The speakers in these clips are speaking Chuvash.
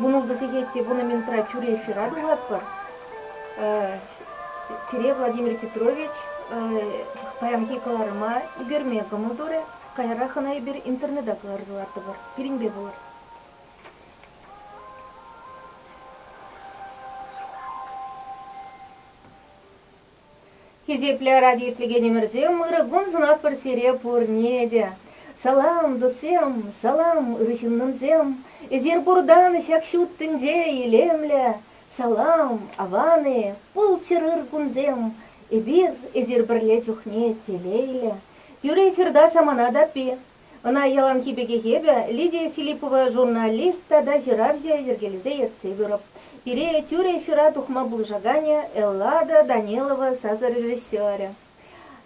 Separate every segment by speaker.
Speaker 1: вунултӑ сехет те вунӑ минутра тӳрех ҫыра тухатпӑр. Пире Владимир Петрович паянхи кӑларӑма ӳкерме кӑмӑл турӗ. Каярах ӑна эпир интернета кӑларса лартӑпӑр. Пирӗнпе пулӑр. Хисеплӗ арари итлекенӗмӗрсем, ырӑ кун сунатпӑр сире пурне те. Салам, тусем, салам, ырӑ ҫыннӑмсем! Эсир пуртан ҫак ҫут тӗнче илемлӗ. Салам, аван-и, пулччӑр ыр кунсем! Эпир, эсир пӗрле чухне телейлӗ. Тӳрех ырта самана таппи. Ӑна яланхи пекех эпӗ Лидия Филиппова журналист тата ҫыравҫӑ йӗркелесе ертсе пырӑп. Пире тӳр эфира тухма пулӑшаканӗ Эллада Данилова сасӑ режиссерӗ.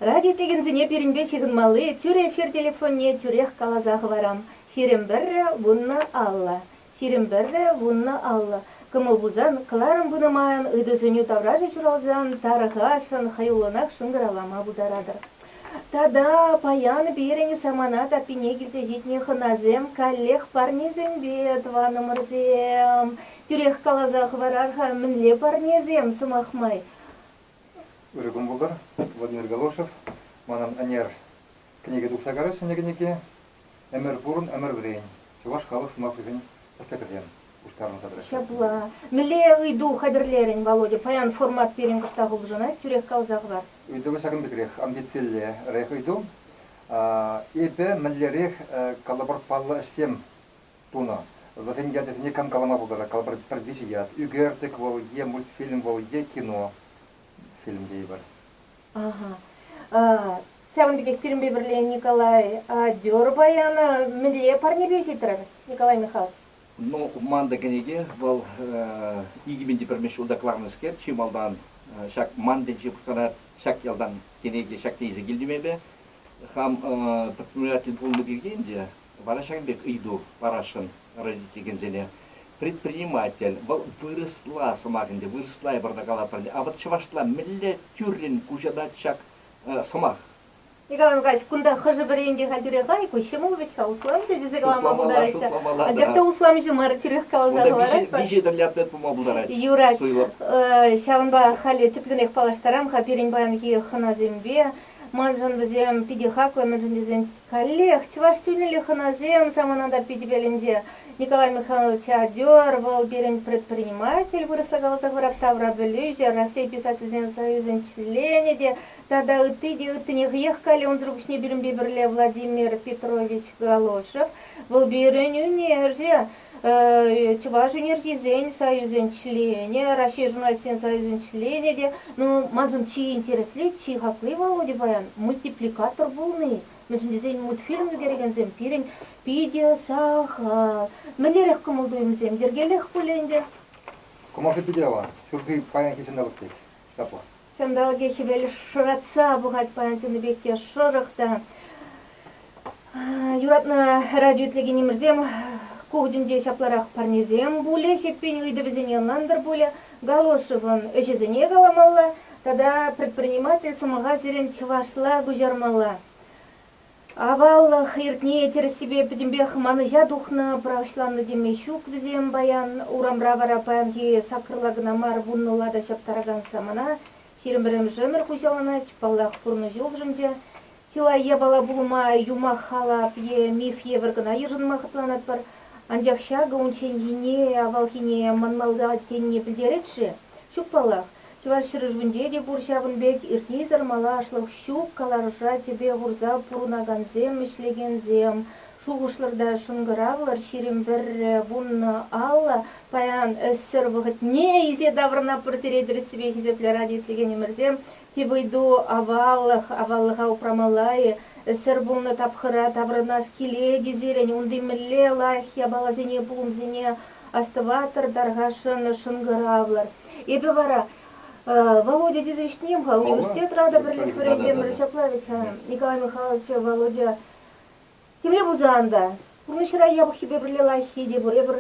Speaker 1: Радиотекенсене пирӗнпе ҫыхӑнмалли тӳр эфир телефонне тӳрех каласа хӑварам, ҫирӗм пӗрре вуннӑ алла. Сирӗн пӗрре вуннӑ аллӑ кӑмӑл пулсан, кӑларӑм пынӑ майӑн ыйту-сӗнӳ таврашӗ ҫуралсан тархасшӑн, хӑюллӑнах шӑнкӑравлама пултаратӑр. Тата паян пирӗн самана таппине килсе ҫитнӗ хӑнасем каллех парнесемпе тӑванӑмӑрсем, тӳрех каласа хӑварар-ха, мӗнле парнесем, сӑмах май? Ырӑ кун пултӑр, Владимир Галошев. Манӑн ӗнер кӗнеке тухса карать ҫӗнӗ кӗнеке. Ӗмӗр пурӑн, ӗмӗр вӗрен, чӑваш халӑх сӑмахӗшӗн тӗслӗхӗсем пуҫтарӑнса тӑраҫҫӗ. Ҫапла. Мӗнле ыйту хатӗрлерӗн, Володя? Паян формат пирӗн кӑштах улшӑнать, тӳрех каласа хӑвар. Ыйтӑвӗ ҫакӑн пекрех, амбициллерех ыйту. Эпӗ мӗнлерех калӑпӑр паллӑ ӗҫсем тунӑ? Вӗсен ячӗсене кам калама пултарать? Калӑпӑр, пӗр виҫӗ ят, ӳкертӗк вӑл е мультфильм вӑл е кино, фильм тейӗпӗр. Ҫавӑн пекех пирӗнпе пӗрле Николай Дёр баян мӗнле парнепе ҫитрӗр, Николай Михайлович? Ну, ман та кӗнеке, вӑл икӗ пин те пӗрмӗш ҫулта кӑларнӑскер, чи малтан ҫак ман тӗнче пуҫланать, ҫак ялтан кӗнеке ҫакне илсе килтӗм эпӗ. Хам предприниматель пулнӑ пирки ӗнтӗ Вара ҫакӑн пек ыйту парасшӑн родительсене. Предприниматель, вӑл вырӑсла сӑмах ӗнтӗ, вырӑсла эпир та калатпӑр ӗнтӗ, а вот чӑвашла мӗнле тӳррӗн куҫарать ҫак сӑмах? Николай Михайлович, кунта хӑшӗ-пӗри ӗнтӗ-ха тӳрех ай, ку ҫӑмӑл вӗт-ха, усламҫӑ тесе калама пултараҫҫӗ. Анчах та усламҫӑ мар, тӳрех каласа хӑваратпӑр. Виҫӗ тӗрлӗ ответ пулма пултарать. Юрать, ҫавӑнпа халӗ тӗплӗнех паллаштарам-ха пирӗн паянхи хӑнасемпе. Маншӑн вӗсем питӗ хаклӑ, мӗншӗн тесен Каллех, чӑваш чунӗллӗ хӑнасем самананта Питӗпелӗнче. Николай Михайлович Адёр вӑл пирӗн предприниматель вырӑсла каласа хӑрать таврапӗлӳҫӗ, Раҫҫей писательсен союзӗн членӗ те тата ытти те ыттине хӑех калле унсӑр пуҫне пирӗнпе пӗрле Владимир Петрович Галошев. Вӑл пирӗн ӳнерҫӗ. Чӑваш Энергисен союзӗн членӗ, Раҫҫей журналистсен союзӗн членӗ те, ну, маншӑн чи интересли, чи хакли Володя паян мультипликатор пулни. Мӗншӗн тесен мультфильм ӳкерекенсем пирӗн питӗ сахал. Мӗнлерех кӑмӑл-туйӑмсем йӗркелех пуль ӗнтӗ? Кӑмӑшӗ питӗ аван. Ҫурхи паянхи ҫанталӑк пек. Ҫапла. Ҫанталӑкӗ хӗвел шӑратса пӑхать пана тенӗ пек те шӑрӑх та. Юратнӑ радио итлекенӗмӗрсем ку тӗнче ҫапларах парнесем пулӗ, Ҫеппен ыйтӑвӗсене ӑнлантӑр пулӗ, Галошевӑн ӗҫӗсене каламалла тата предприниматель сӑмаха сирӗн чӑвашла куҫармалла. Аваллӑх эрне тӗрӗссипе пӗтӗмпех манӑҫа тухнӑ, пӑрахӑҫланнӑ теме ҫук вӗсем паян. Урамра вара паянхи саккӑрла кӑна мар вуннӑла та ҫаптаракан самана ҫирӗм пӗрремӗш ӗмӗр хуҫаланать. Паллах, пурнӑҫ улшӑнчӗ. Чылай япала пулма юмах-халап е миф евӗр кӑна йышӑнма хӑтланатпӑр. Анчах ҫакӑ унчченхине, авалхине манмалла тенине пӗлтерет-ши? Ҫук паллах, Чӑваш ҫӗршывӗнче те пур ҫавӑн пек иртнисӗр малашлӑх ҫук каларӑша тӗпе хурса пурӑнакансем, ӗҫлекенсем. Шухӑшлӑр та шӑнкӑравлӑр, ҫирӗм пӗрре вуннӑ алла паян ӗҫсӗр вӑхӑтне илсе таврӑнатпӑр сире, тӗрӗссипе хисеплӗ радио ислекенӗмӗрсем. Тип ыйту аваллӑх, аваллӑха упрамалла-и? Ӗсӗр пулнӑ тапхӑра таврӑнас килет-и сирӗн? Унти мӗнле лайӑх япаласене, пулӑмсене астӑватӑр, тархасшӑн, шӑнкӑравлӑр. Эпӗ вара, Володя тесе ҫитӗнем-ха, университетра та пӗрлех вӗренмерӗ ҫапла вӗт-ха, Николай Михайлович, Володя Темле пулсан та, пурнӑҫра япӑххипе пӗрле лайӑххи те пур. Эпӗр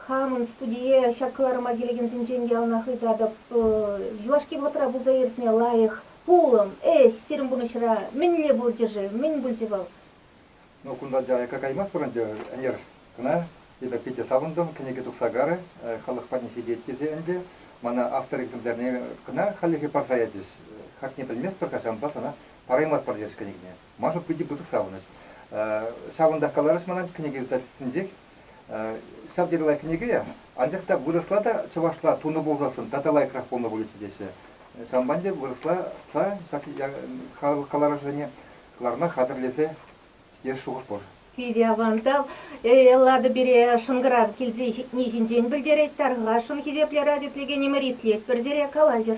Speaker 1: хамӑн студие ҫак кӑларӑма килекенсенчен яланах ыйтатӑп. Юлашки вӑхӑтра пулса иртнӗ лайӑх пулӑм, ӗҫ сирӗн пурнӑҫра мӗнле пулчӗ-ши? Мӗн пулчӗ вӑл? Ну, кунта аякка каймастпӑр ӗнтӗ, ӗнер кӑна эпӗ питӗ савӑнтӑм, кӗнеке тухса карӗ, халӑх патне ҫитет тесе ӗнтӗ. Мана автор экземплярне кӑна хальлӗхе парса ячӗҫ. Хакне пӗлместпӗр-ха, ҫавӑнпах ӑна параймастпӑр терӗҫ кӗнекене. Маша питӗ пысӑк савӑнӑҫ. Ҫавӑнтах каларӑш ман кӗнеке издательствинчех. Ҫав тери лайӑх кӗнеке, анчах та вырӑсла та чӑвашла тунӑ пулсассӑн тата лайӑхрах пулнӑ пулӗччӗ теҫҫӗ. Ҫавӑнпа ӗнтӗ вырӑсла ҫак каларӑшсене кӑларма хатӗрлесе ес шухӑш пур. Питӗ авантал. Эллада пире шӑнкӑрав килсе ҫитни ҫинчен пӗлтерет, тархасшӑн хисеплӗ радио итлекенӗмӗр итлетпӗр сире, калаҫӑр.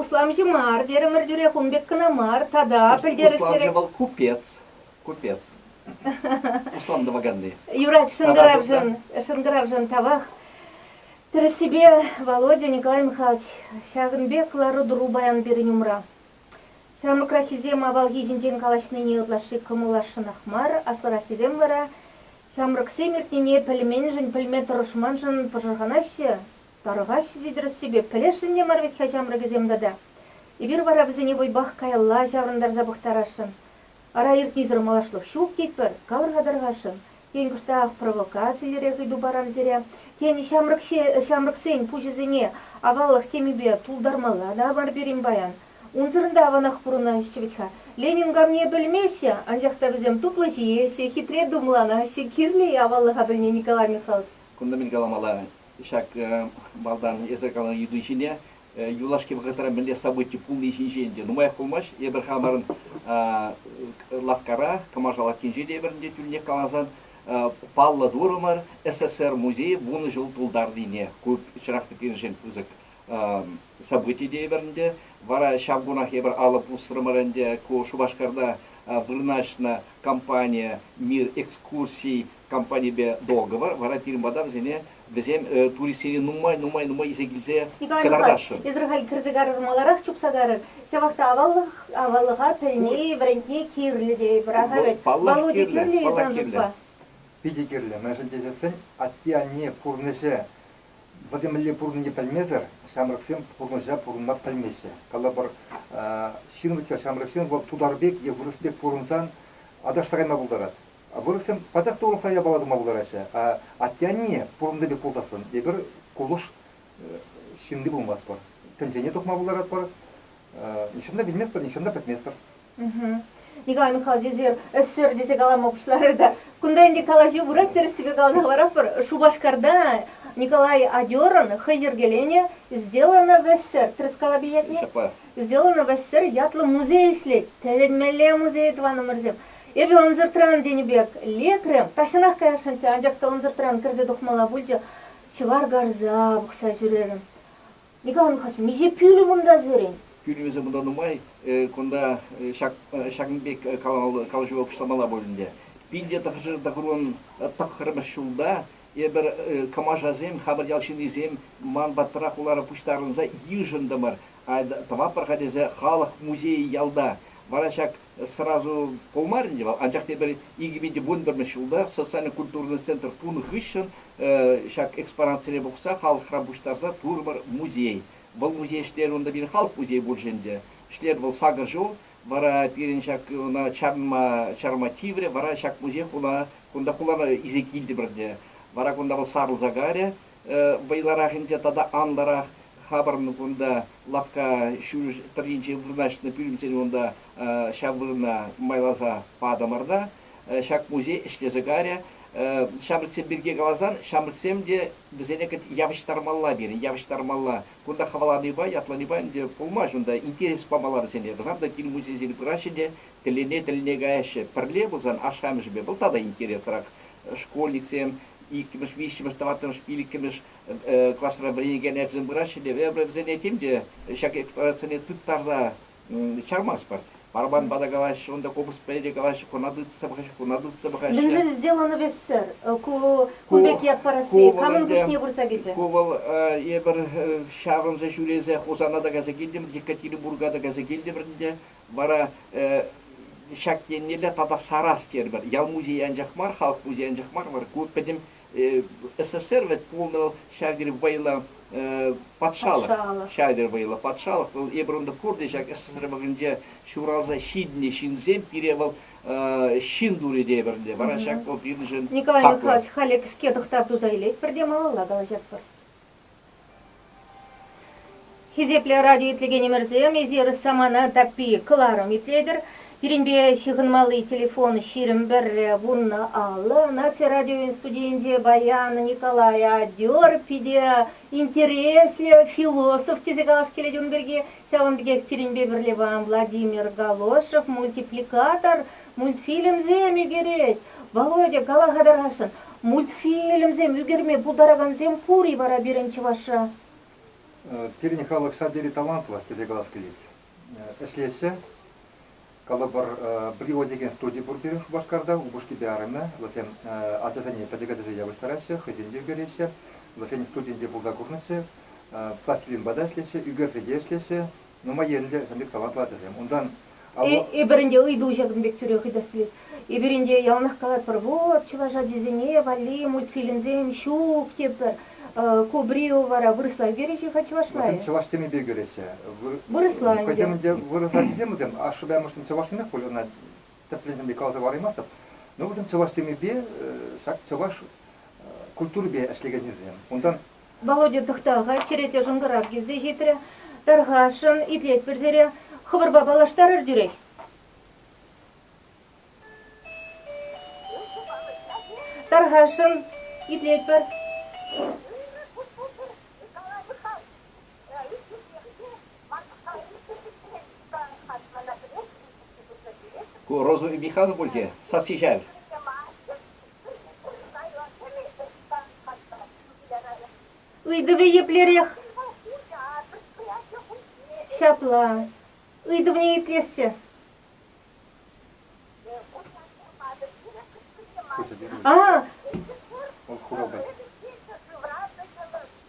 Speaker 1: Усламҫӑ мар терӗмӗр тӳрех ун пек кӑна мар тата пӗлтерӗшлӗрех. Усламҫӑ вӑл купец. Купец. Услам тӑваканни. Юрать шӑнкӑравшӑн, шӑнкӑравшӑн тавах. Тӗрӗссипе, Володя Николаевна ҫакӑн пек лару-тӑру паян пирӗн умра. Ҫамрӑкраххисем авалхи ҫинчен калаҫнине ытлашши кӑмӑлласшӑнах мар, аслӑраххисем вара ҫамрӑксем иртнине пӗлменшӗн, пӗлме тӑрӑшманшӑн пӑшӑрханаҫҫӗ. Тархаҫ, витрассипе пӗлесшӗн-и мар вӗт-ха ҫамрӑкӗсем тата? Эпир вара вӗсене вӑйпах каялла ҫаврӑнтарса пӑхтарасшӑн. Ара, иртнисӗр малашлӑх ҫук тетпӗр, калӑр-ха тархасшӑн, тен, кӑштах провокациллӗрех ыйту парам сире, тен, ҫамрӑксен пуҫӗсене аваллӑх темипе тултармалла та мар пирӗн паян? Унсӑрӑн та аванах пурӑнаҫҫӗ вӗт-ха. Ленин камне пӗлмеҫҫӗ, анчах та вӗсем тутлӑ ҫиеҫҫӗ, хитре тумланаҫҫӗ, кирлӗ-и аваллӑха пӗлме Николай Михайлович? Кунта мӗн каламалла-мӗн? ҫак малтан эсӗ каланӑ ыйту ҫине юлашки вӑхӑтра мӗнле событи пулни ҫинчен те нумаях пулмасть эпир хамӑрӑн лавккара Кӑмаша лавккинче те ӗмӗрӗнче тӳлӗнех каласан паллӑ турӑмӑр СССР музейӗ вунӑ ҫул тултарнине ку чӑрах тӗкленӗшӗн пысӑк событи те эпир ӗнтӗ вара ҫав кунах эпир алӑ пусрӑмӑр ӗнтӗ ку Шупашкарта вырнаҫнӑ компание мир экскурсий компанипе договор вара пирӗн пата вӗсене вӗсем туристсене нумай-нумай илсе килсе кӑтартасшӑн. Израиль кӗрсе карӑр маларах чупса карӑр. Ҫавах та аваллӑха пӗлни, вӗрентни кирлӗ тейӗпӗр. Ага вӗт. Володя кирлӗ-и сан шутпа? Питӗ кирлӗ. Мӗншӗн тесессӗн атте-анне пурнӑҫӗ вӗсем мӗнле пурӑннине пӗлмесӗр ҫамрӑксем пурнӑҫа пурӑнма пӗлмеҫҫӗ. Калӑпӑр, ҫын вӗт-ха, ҫамрӑксем вӑл тутар пек е вырӑс пек пурӑнсан аташтарайма пултарать. Вырӑссем пачах та урӑхла япала тума пултараҫҫӗ. Атте-анне пурӑннӑ пек пулсассӑн эпир кулӑш ҫынни пулмастпӑр. Тӗнчене тухма пултаратпӑр. Нихҫан та вилместпӗр, нихҫан та пӗтместпӗр. Николай Михайлович эсир ӗҫсӗр тесе калама пуҫларӑр та кунта ӗнтӗ калаҫу пырать тӗрӗссипе каласа хӑваратпӑр. Шупашкарта Николай Адёрӑн хӑй йӗркеленӗ Сделано в СССР тӗрӗскала билетне Сделано в СССР ятлӑ музей ӗҫлет. Тӗлӗнмелле музей, тӑванӑмӑрсем! Эпӗ ӑнсӑртран тенӗ пек лекрӗм. Тахҫанах каясшӑнччӗ, анчах та ӑнсӑртран кӗрсе тухмалла пулчӗ. Ҫӑвар карса пӑхса ҫӳрерӗм. Николай Михайлович, миҫе пӳлӗм унта сирӗн? Пӳлӗмӗсем кунта нумай. Кунта ҫакӑн пек калаҫӑва пуҫламалла пуль ӗнтӗ. Пинте тӑхӑрҫӗр тӑхӑрӑн тӑххӑрмӗш ҫулта эпир, Кӑмашасем, хамӑр ял ҫыннисем, ман патра хулара пуҫтарӑнса йышӑнтӑмӑр. Тӑватпӑр-ха тесе халӑх музейӗ ялта. Вара ҫак сразу пулмарӗ ӗнтӗ вӑл, анчах тепӗр икӗ пин вунпӗрмӗш ҫулта социаллӑ культурный центр пулнӑ хыҫҫӑн ҫак экспонатсене пухса халӑхра пуҫтарса турӑмӑр музей. Вӑл музей ӗҫлерӗ унта пирӗн халӑх музейӗ пулчӗ ӗнтӗ. Ӗҫлерӗ вӑл сакӑр ҫул. Вара пирӗн ҫак ӑна чарма чарма тиврӗ. Вара ҫак музей хуна кунта хулана илсе килтӗмӗр те вара кунта вӑл сарӑлса кайрӗ. Вӑйлӑрах ӗнтӗ тата анлӑрах хапӑрн кунта. Лавкка ҫӳл тӑрринче вырнаҫнӑ пӳлӗмсене унта ҫав вырӑна майласа патӑмӑр та ҫак музей ӗҫлесе карӗ. Ҫамрӑксем пирки каласан, ҫамрӑксем те вӗсене явӑҫтармалла пирӗн, явӑҫтармалла. Кунта хӑваланипа, ятланипа ӗнтӗ пулмасть унта. Интерес памалла вӗсене. Вӗсем те кил музейсене пыраҫҫӗ те Тӗллене-тӗллене каяҫҫӗ. Пӗрле пулсан ашшӗ-амӑшӗпе вӑл тата интересрах. Школьниксем иккӗмӗш, виҫҫӗмӗш, тӑваттӑмӗш, пиллӗккӗмӗш класра вӗренекен ачасем пыраҫҫӗ те эпӗ вӗсене тем те ҫак эксплуатацие тыттарса чармастпӑр. Барабанпа та калаҫҫӗ, унта купӑспа те калаҫҫӗ, куна тытса пӑхаҫҫӗ, куна тытса пӑхаҫҫӗ. Мӗншӗн сделанывессӗр ку пек ят парасси? Камӑн пуҫне пырса кӗчӗ? Ку вӑл, эпир ҫаврӑнса ҫӳресе Хусана та кайса килтӗмӗр, Екатеринбурга та кайса килтӗмӗр ӗнтӗ. Вара ҫак еннелле тата сарас терӗпӗр. Ял музейӗ анчах мар, халӑх музейӗ анчах мар, вара ку пӗтӗм СССР вӗт пулнӑ вӑл, ҫав тери вӑйлӑ патшалӑх, ҫав тери вӑйлӑ патшалӑх. Вӑл эпир унта куртӑм, ҫак СССР вӑхӑтӗнче ҫуралса ҫитнӗ ҫынсем, пире вӑл ҫын турӗ тейӗпӗр ӗнтӗ, вара ҫак вӑл пирӗншӗн хаклӑ. Николай Михайлович, халӗ кӗске тӑхтав туса илетпӗр те малалла калаҫатпӑр. Хисеплӗ радио итлекенӗмӗрсем, эсир самана таппи кӑларӑм итлетӗр. Пирӗнпе ҫыхӑнмалли телефон ҫирӗм пӗрре вуннӑ алӑ. Наци радиовӗн студийӗнче Баян Николай Адер питӗ интереслӗ философ тесе калас килет ун пирки. Ҫавӑн пекех пирӗнпе пӗрле Владимир Галошев мультипликатор Мультфильмсем ӳкерет. Володя, кала-ха тархасшӑн, мультфильмсем ӳкерме пултаракансем пур-и вара пирӗн чӑвашра? Пирӗн халӑх сад йӗри талантлӑ телеканал килет. Ӗҫлеҫҫӗ. Калӑпӑр, Брио текен студи пур пирӗн Шупашкарта, упӑшкипе арӑмӗ. Вӗсем ачасене пӗчӗк ачасене явӑҫтараҫҫӗ, хӑйсем те ӳкереҫҫӗ. Вӗсен студийӗнче пулса курнӑччӗ. Пластилинпа та ӗҫлеҫҫӗ, ӳкерсе те ӗҫлеҫҫӗ. Нумай енлӗ лӗк-аватлӑ ачасем. Унтан Эпир ӗнтӗ ыйту ҫакӑн пек тӳрех ыйтас килет. Эпир ӗнтӗ яланах калатпӑр, вот чӑваш ачисене валли мультфильмсем ҫук тетпӗр. Ку Брио вара вырӑсла ӳкереҫҫӗ-ха чӑваш май? Вӗсем чӑваш темипе ӳкереҫҫӗ. Вырӑсла ӗнтӗ. Хӑйсем ӗнтӗ вырӑс ачисем вӗсем. Ашшӗпе амӑшсем чӑвашсемех пуль, ӑна тӗплӗнсем те каласа параймастӑп. Но вӗсем чӑваш темипе, ҫак чӑваш культурипе ӗҫлекеннисем. Унтан Володя тӑхта-ха, черете шӑнкӑрав килсе ҫитрӗ. Тархасшӑн, итлетпӗр сире. Хӑвӑрпа паллаштарӑр тӳрех. Тархасшӑн, итлетпӗр. Ку Роза Михайловна пуль те, сасси шел. Ыйтӑвӗ еплерех? Ҫапла. Ыйтӑвне итлесчӗ. А,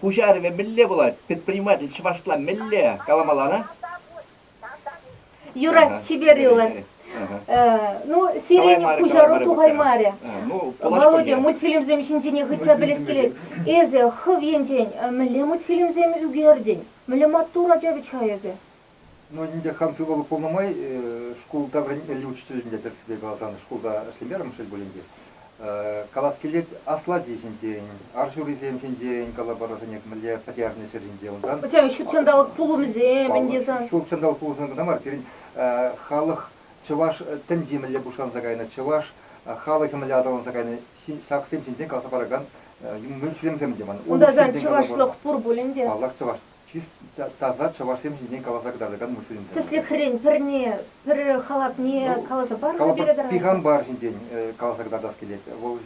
Speaker 1: пуҫарӑвӗ мӗнле пулать, предприниматель чӑвашла мӗнле каламалла-на? Юрать Чиперилла. Ну, сирӗн пуҫару тухаймарӗ. Володя, мультфильмсем ҫинчене хытса пӗлес килет. Эсӗ хӑв енчен мӗнле мультфильмсем ӳкертӗн? Мӗнле маттур ача вӗт-ха эсӗ? Ну, ӗнтӗ хам сывлӑх пулнӑ май шкулта вӗрентмелли учрежденийӗ тӗрӗссипе каласан шкулта ӗҫлемерӗм шел пулин те. Калас килет, аслати ҫинчен, ар ҫурисем ҫинчен калаборӑсене мӗнле пӗтернӗ ҫӗр ҫинче унтан. Пӗтем ҫут ҫанталӑк пулӑмӗсем ӗнтӗ сан. Ҫут ҫанталӑк пулӑмӗсем кӑна мар, пирӗн халӑх чӑваш тӗнчи мӗнле пуҫланса кайнӑ, чӑваш халӑхӗ мӗнле аталанса кайнӑ, ҫаксем ҫинчен каласа паракан мультфильмсем те ман. Унта сан чӑвашлӑх пур пулин те. Паллах, чӑваш таса чӑвашсем ҫине каласа кӑтартакан мультфильмсем. Тӗслӗхрен, пӗрне, пӗр халапне ну, каласа парӑр пире тӑрӑх. Пихампар ҫинчен каласа кӑтартас килет. Вӑл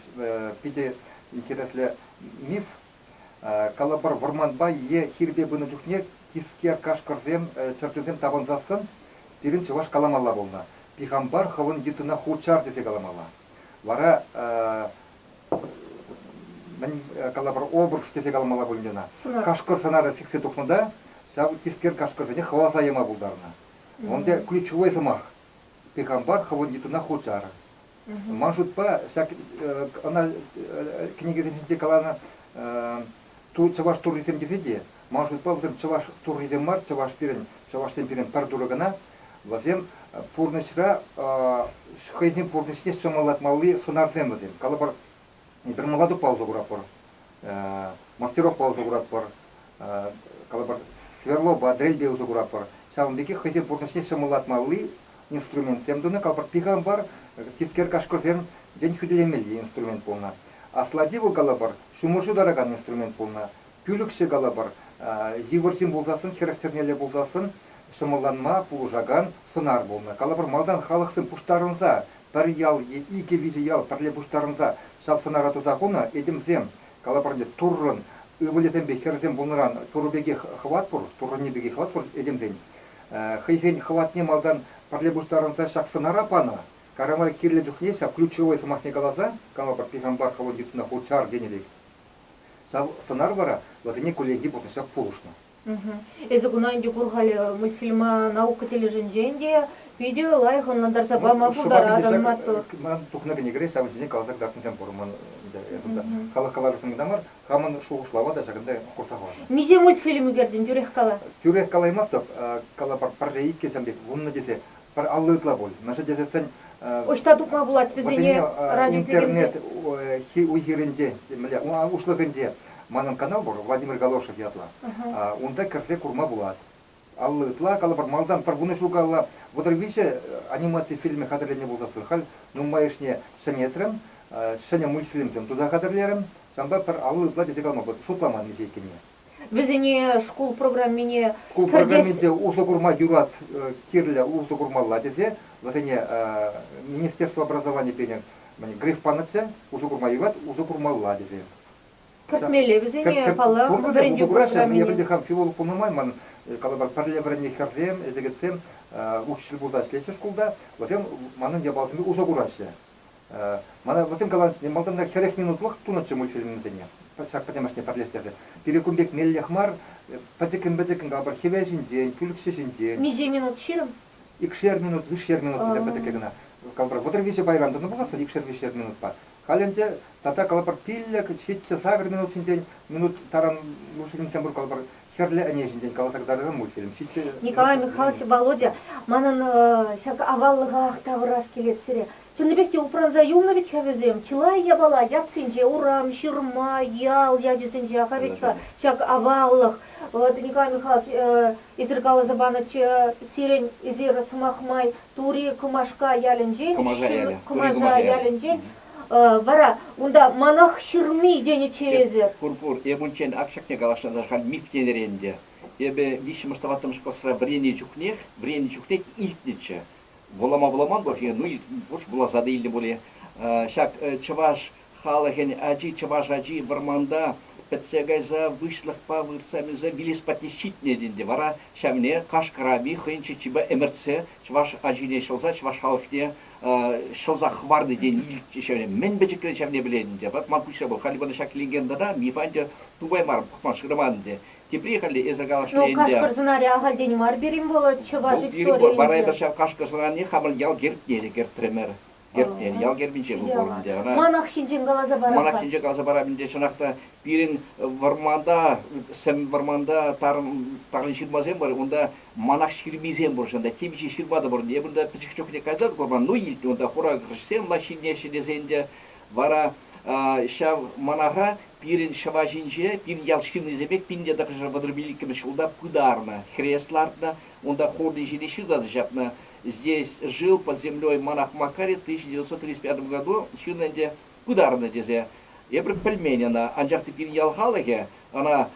Speaker 1: питӗ интереслӗ миф. Калӑпӑр, вӑрманпа е хирпе пынӑ чухне тискер кашкӑрсем, чӗрчунсем тапӑнсассӑн пирӗн чӑваш каламалла пулнӑ. Пихампар хӑвӑн йытӑна хурчар тесе каламалла. Вара мӗн калӑпӑр обруч тесе каламалла пулин ӑна кашкӑр сӑнарӗ сиксе тухнӑ та ҫав тискер кашкӑрсене хӑваласа яма пултарнӑ унти ключевой сӑмах пехампар хӑвӑн йытӑна хучар ман шутпа ҫак ӑна кӗнекесенче каланӑ чӑваш туррисем тесе те, ман шутпа, вӗсем чӑваш туррисем мар, чӑваш пирӗн, чӑвашсем пирӗн пӗр турӑ кӑна, вӗсем пурнӑҫра хӑйсен пурнӑҫне ҫӑмӑллатмалли сунарсем вӗсем. Калӑпӑр, пӗр мӑлатукпа усӑ куратпӑр, мастерокпа усӑ куратпӑр, калӑпӑр, сверлопа, дрельбе усӑ куратпӑр. Ҫавӑн пекех хӑйсен пурнӑҫне ҫӑмӑллатмалли инструментсем тунӑ, капӑртти калӑпӑр, тискер кашкӑрсем, тен, хӳтӗлемелли инструмент пулнӑ. Аслати вӑл, калӑпӑр, ҫумӑрҫу таракан инструмент пулнӑ. Пӳлӗкҫӗ, калӑпӑр, йывӑр ҫын пулсассӑн, хӗрӗх чӗрнелле пулсассӑн ҫӑмӑлланма пулӑшакан сӑнар пулнӑ. Калӑпӑр, малтан халӑхсем пуҫтарӑнса пӗр ял е икӗ-виҫӗ ял пӗрле пуҫтарӑнса ҫав сӑнара туса хунӑ, этемсем, калӑпӑр ӗнтӗ, Туррӑн ывӑлӗсемпе хӗрӗсем пулнӑран Турӑ пекех хӑват пур, Туррӑнни пекех хӑват пур этемсен. хӑйсен хӑватне малтан пӗрле пуҫтарӑнса ҫак сӑнара панӑ, Карамай кирлӗ чухне ҫав ключевой сӑмахне каласа калӑпӑр, пихампар хӑвӑн йытӑна хурчар тенӗ пек. Ҫав сӑнар вара вӗсене кулленхи пурнӑҫа пулӑшнӑ. Эсӗ куна ӗнтӗ кур халӗ, мультфильма наука тӗлӗшӗнчен те питӗ лайӑх ӑнлантарса пама пултаратӑн, маттур. Ман тухнӑ кӗнекере ҫавӑн ҫине каласа кӑтартнисем пур, ман халӑх калавӗшӗн кӑна мар, Хамӑн шухӑшлава та ҫакӑнта хурса хӑварнӑ. Миҫе мультфильм ӳкертӗн, тӳрех кала. Тӳрех калаймастӑп, калӑпӑр, пӗрре иккӗшӗн пек вуннӑ тесе пӗр алли ытла пуль. Мӗншӗн тесессӗн. Ӑҫта тупма пулать вӗсене радиоинтернет уй-хирӗнчен, мӗнле, уҫлӑхӗнче, манӑн канал пур, Владимир Галошев ятлӑ, унта кӗрсе курма пулать. Алла ытла, калӑпӑр, малтан пӗр вунӑ ҫул калла Вӑтӑр виҫӗ анимаци фильмӗ хатӗрленӗ пулсассӑн халь нумайӑшне ҫӗнетрӗм. Ҫӗнӗ мультфильмсем туса хатӗрлерӗм, ҫавӑнпа пӗр алла ытла тесе калама шутламан виҫӗ иккенне. Вӗсене шкул программине Шкул программи те усӑ курма юрать, кирлӗ усӑ курмалла тесе вӗсене министерство образовани пенӗ Гриф панӑччӗ, усӑ курма юрать, усӑ курмалла тесе. Кӗртмелле вӗсене, паллах, вӗрентӳ программине. Я пӗлтӗр хам филолог пулнӑ май манӑн, калӑпӑр, пӗрле вӗреннӗ хӗрсем, ӗҫлекетсем учитель пулса ӗҫлеҫҫӗ шкулта. Вӗсем манӑн япаласемпе усӑ кураҫҫӗ. Мана вӗсем каланӑччӗ, малтанах хӗрех минутлӑх тунӑччӗ мультфильмсене. Ҫак пӗтӗмӗшлне пӗрлештерсе. Пире кун пек меллех мар. Пӗчӗккӗн-пӗчӗккӗн, калӑпӑр, хӗвел ҫинчен, пӳлӗхҫӗ ҫинчен. Миҫе минут ҫирӗм? Икшер минут, виҫшер минут вӗсем пӗчӗккӗ кӑна. Калӑпӑр, вӑтӑр-виҫӗ пайран тӑнӑ пуласшӑн икшер-виҫшер минутпа. Халӗ ӗнтӗ тата калӑпӑр пиллӗк, ҫиччӗ, сакӑр минут ҫинчен, минут таран Мушинчен мӑшӑр калӑпӑр хӗрлӗ ӗне ҫинчен каласа кӑтартса мучирӗм. Ҫиччӗ. Николай Михайлович Володя, манӑн ҫак аваллӑхах тавӑрас килет сире. Чӑннипех те упранса юлнӑ вӗт-ха вӗсем. Чылай япала ятсенче, урам, ҫырма, ял ячӗсенче ха вӗт-ха ҫак аваллӑх. Вӑт, Николай Михайлович, эсир каласа панӑччӗ сирӗн эсир сӑмах май Тури Кӑмашка ялӗнчен, Кӑмаша ялӗ. Кӑмаша ялӗнчен. Вара унта манах ҫырми тенӗччӗ эсӗ. Пур, пур. Эп унччен ак ҫакне каласшӑнччӗ, халь мифтенӗр ӗнтӗ. Эпӗ виҫҫӗмӗш-тӑваттӑмӗш класра вӗреннӗ чухнех, вӗреннӗ чухнех илтнӗччӗ. Вулама вуламан пулать-и? Ну, пур, вуласа та илнӗ пулӗ ҫак чӑваш Халӑхӗн ачи чӑваш ачи вӑрманта пӗтсе кайса выҫлӑхпа выртса-нӳссе вилес патне ҫитнӗ ӗнтӗ вара ҫавне Кашкӑрави хӑйӗн чӗччипе ӗмӗртсе чӑваш ачине ҫӑлса чӑваш халӑхне ҫӑлса хӑварнӑ тени илтчӗ ҫавне мӗн пӗчӗкрен ҫавне пӗлет ӗнтӗ вӑт ман куҫра вӑл халӗ ӑна ҫак легенда та нихӑҫан те тупаймарӑм пӑхма шыраман ӗнтӗ тепри халӗ эсӗ калашле ӗнтӗ. Ну кашкӑр сӑнарӗ ахальтен мар пирӗн вӑл чӑваш историйӗнче. вара эпӗ ҫав кашкӑр сӑнарине хамӑр ял гербне те кӗртрӗмӗр. Герб, ял гербӗнче вӑл пур ӗнтӗ ӑна. Манах ҫинчен каласа парап-ха. Манах ҫинчен каласа парап ӗнтӗ. Чӑнах та пирӗн вӑрманта, сӗм вӑрманта тарӑн ҫырмасем пур. Унта манах ҫырмисем пур. Чӑн та темиҫе ҫырма та пур. Эпир та пӗчӗк чухне кайса курман. Ну, илтнӗ унта хура хресчен влаҫ ҫитӗнеҫҫӗ тесе ӗнтӗ. Вара ҫав манаха пирӗн ҫӑва ҫинче пин ял ҫыннисем пек пинле тӑхӑршар вӑтӑр пилӗккӗмӗш ҫулта пытарнӑ. Хрест лартнӑ, унта хурнӑ ҫине ҫырса та ҫапнӑ. здесь жил под землей монах Макари в 1935 году, ҫынна ӗнтӗ пытарнӑ тесе. Эпир пӗлмен ӑна, анчах та пирӗн ял халӑхӗ ӑна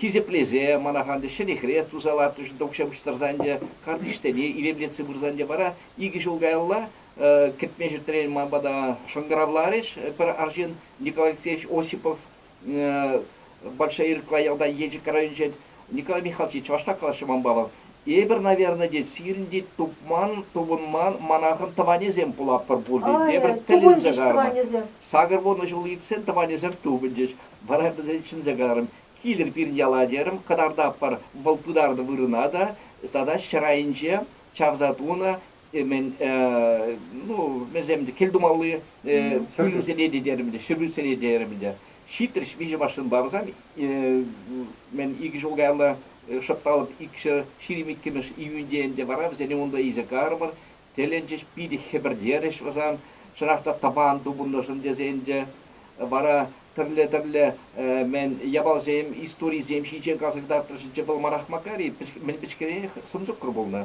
Speaker 1: хисеплесе манаха ӗнтӗ ҫӗнӗ хрест туса лартрӗҫ, укҫа пуҫтарса ӗнтӗ картишсене илемлетсе пырса ӗнтӗ вара икӗ ҫул каялла кӗтме ҫӗтрен ман пата шӑнкӑравларӗҫ пӗр арҫын Николай Алексеевич Осипов Большая Ирква ялта Елчӗк районӗнче Николай Михайлович чӑвашла калаҫҫӗ ман палӑк. Эпир, наверное, тет, сирӗн тет тупман, тупӑнман манахӑн тӑванӗсем пулатпӑр пулин те, эпир тӗлӗнсе каларӑмӑр. Сакӑр вунӑ ҫул иртсен тӑванӗсем тупӑнчӗҫ. Вара пӗсен чӗнсе каларӑм, килӗр пирӗн яла терӗм, кӑтартатпӑр вӑл пытарнӑ вырӑна та, тата ҫӗр айӗнче чавса тунӑ мен ну вӗсем кӗлтумалли пӳлӗмсене те терӗм те ҫӗрӳсене терӗм те ҫитрӗҫ виҫӗ машина барсан мен икӗ ҫул каялла шӑпталӑп икҫӗр ҫирӗм иккӗмӗш июньте ӗнтӗ вара вӗсене унта илсе карӑмӑр тӗлӗнчӗҫ питӗ хӗпӗртерӗҫ вӑсан чӑнах та тӑпан тупӑннӑшӑн тесе ӗнтӗ вара тӗрле-тӗрле мен япалсем историсем ҫинчен каласа кӑтартрӗҫ вӑл манах макар-и мӗн пӗчкерех сӑмсуккӑр пулнӑ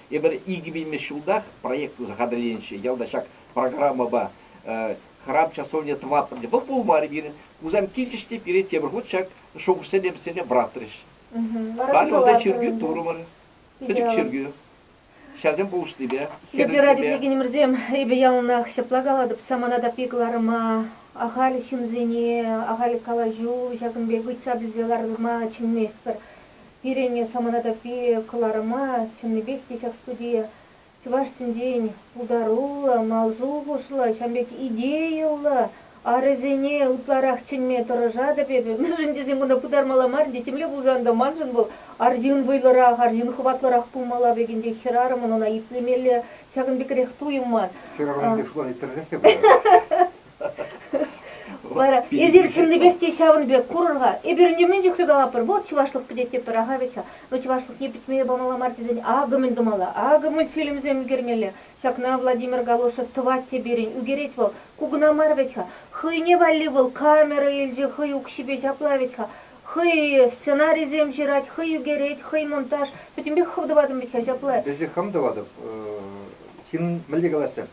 Speaker 1: Эпир икӗ вилмӗш ҫултах проект туса хатӗрленӗччӗ. Ялта ҫак программӑпа храм часовня тӑватпӑр те вӑл пулмарӗ пирӗн. Хусан килчӗҫ те пире тепӗр хут ҫак шухӑшсене вӗсене вӑратрӗҫ. Халӗ унта чиркӳ турӑмӑр. Пӗчӗк чиркӳ. Ҫаксем пулӑшнипе. Йӗркера тертлекенӗмӗрсем, эпӗ яланах ҫапла калатӑп, самана таппи кӑларӑма, ахаль ҫынсене ахаль калаҫу, ҫакӑн пек ыйтса пӗлсе ларма чӗнместпӗр. Пирӗн самана таппи кӑларӑма чӑннипех те ҫак студие чӑваш тӗнчин пултаруллӑ, мал шухӑшлӑ, ҫавӑн пек идейӑллӑ арӗсене ытларах чӗнме тӑрӑшатӑп эпӗ. Мӗншӗн тесен кунта пытармалла мар ӗнтӗ. Темле пулсан та маншӑн вӑл арҫын вӑйлӑрах, арҫын хӑватлӑрах пулмалла пек ӗнтӗ. Хӗрарӑмӑн ӑна итлемелле ҫакӑн пекрех туйӑм ман. Хӗрарӑм эпир шута тӗрӗсех те пырать. Вара эсир чӑннипех те ҫавӑн пек курӑр-ха. Эпир ӗнтӗ мӗн чухлӗ калапӑр. Вӑл чӑвашлӑх пӗтет тепӗр аха вӗт-ха. Ну чӑвашлӑхне пӗтмеме памалла мар тесен акӑ мӗн тумалла, акӑ мультфильмсем ӗлкӗрмелле. Ҫакна Владимир Галошев тӑвать те пирӗн, ӳкерет вӑл. Ку кӑна мар вӗт-ха. Хӑйне валли вӑл камера илчӗ, хӑй укҫипе ҫапла вӗт-ха. Хӑй сценарисем ҫырать, хӑй ӳкерет, хӑй монтаж. Пӗтӗмпех хӑв тӑватӑн вӗт-ха ҫапла. Эсӗ хам тӑватӑп. Ҫын мӗнле калаҫса.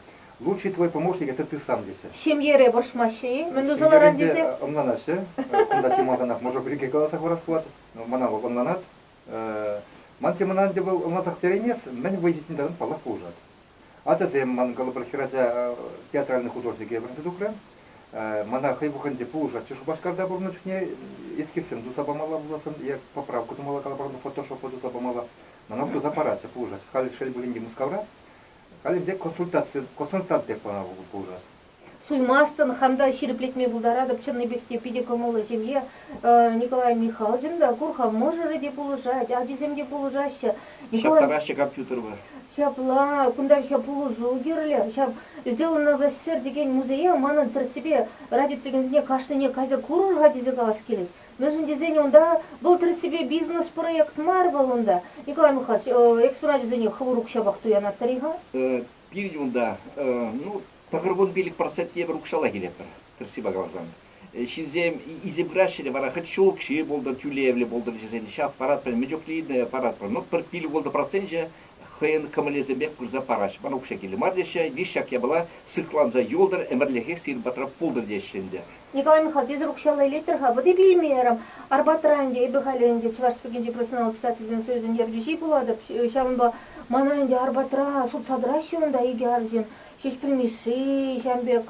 Speaker 1: Лучший твой помощник это ты сам тесе. Ҫемьере вӑрҫмаҫҫӗ-и? Мӗн тусанаран Ҫемьере тесе? ӑнланаҫҫӗ. Кунта тем малтанах мӑшӑр пирки каласа хурас пулать. Мана вӑл ӑнланать. Ман темӑна ӗнтӗ вӑл ӑнлансах переймест, мӗн вӑй ҫитнин таран паллах пулӑшать. Ачасем, ман калӑпӑр хӗрача театральнӑй художнике вӗренсе тухрӗ. Мана хӑй пуххинче пулӑшатчӗ Шупашкарта пурӑннӑ чухне. Эскизсем туса памалла пуласшӑн е поправка тумалла, калӑпӑр, фотошоппа туса памалла. Мана туса паратчӗ, пулӑшатчӗ. Халь, шел пулин те, Мускавра. Халӗ ӗнтӗ консультаци, консультант пек мана пулнӑ. Суймастӑн, хам та ҫирӗплетме пултаратӑп. Чӑннипех те питӗ кӑмӑллӑ ҫемье. Николай Михалкин та кур-ха, мӑшӑрӗ те пулӑшать, ачисем те пулӑшаҫҫӗ. Ҫаптараҫҫӗ компьютерпа. Ҫапла, кунтанхи пулӑшу кирлӗ. Ҫав Сделан новосер текен музее манӑн тӗрӗссипе радио текенсене кашнине кайса курӑр-ха тесе калас килет. Мӗншӗн тесен унта вӑл тӗрӗссипе бизнес-проект мар вӑл унта. Николай Михайлович, экспоначӗсене хӑвӑр укҫапах туянатпӑр-и-ха? Пирӗн унта, ну, тӑхӑр вунпилӗк процент евӗр укҫаллах илетпӗр, тӗрӗссипе каласан. Ҫынсем илсе пыраҫҫӗ те вара хӑть ҫул укҫи пултӑр, тӳлевлӗ пултӑр вӗсен, ҫав паратпӑр, мӗн чухлӗ паратпӑр, ну, пӗр пил-ултӑ проценчӗ хӑйӗн кӑмӑлӗсемпех пырса параҫҫӗ. Ман укҫа кирлӗ мар теҫҫӗ, виҫ ҫак япала сыхланса юлтӑр, ӗмӗрлӗхех сирӗн патра пултӑр теҫҫӗ ӗнтӗ. Николай Михальсесӗр укҫалла илеттӗр-ха, вӑт итлеймерӗм. Арпатра ӗнтӗ, эпӗ халӗ ӗнтӗ Чӑваш Республикинчи профессионаллӑ писательсен союзӗн ертӳҫи пулатӑп, ҫавӑнпа мана ӗнтӗ Арпатра сутса тӑраҫҫӗ унта икӗ арҫын, Ҫеҫпӗл Мишши, ҫавӑн пек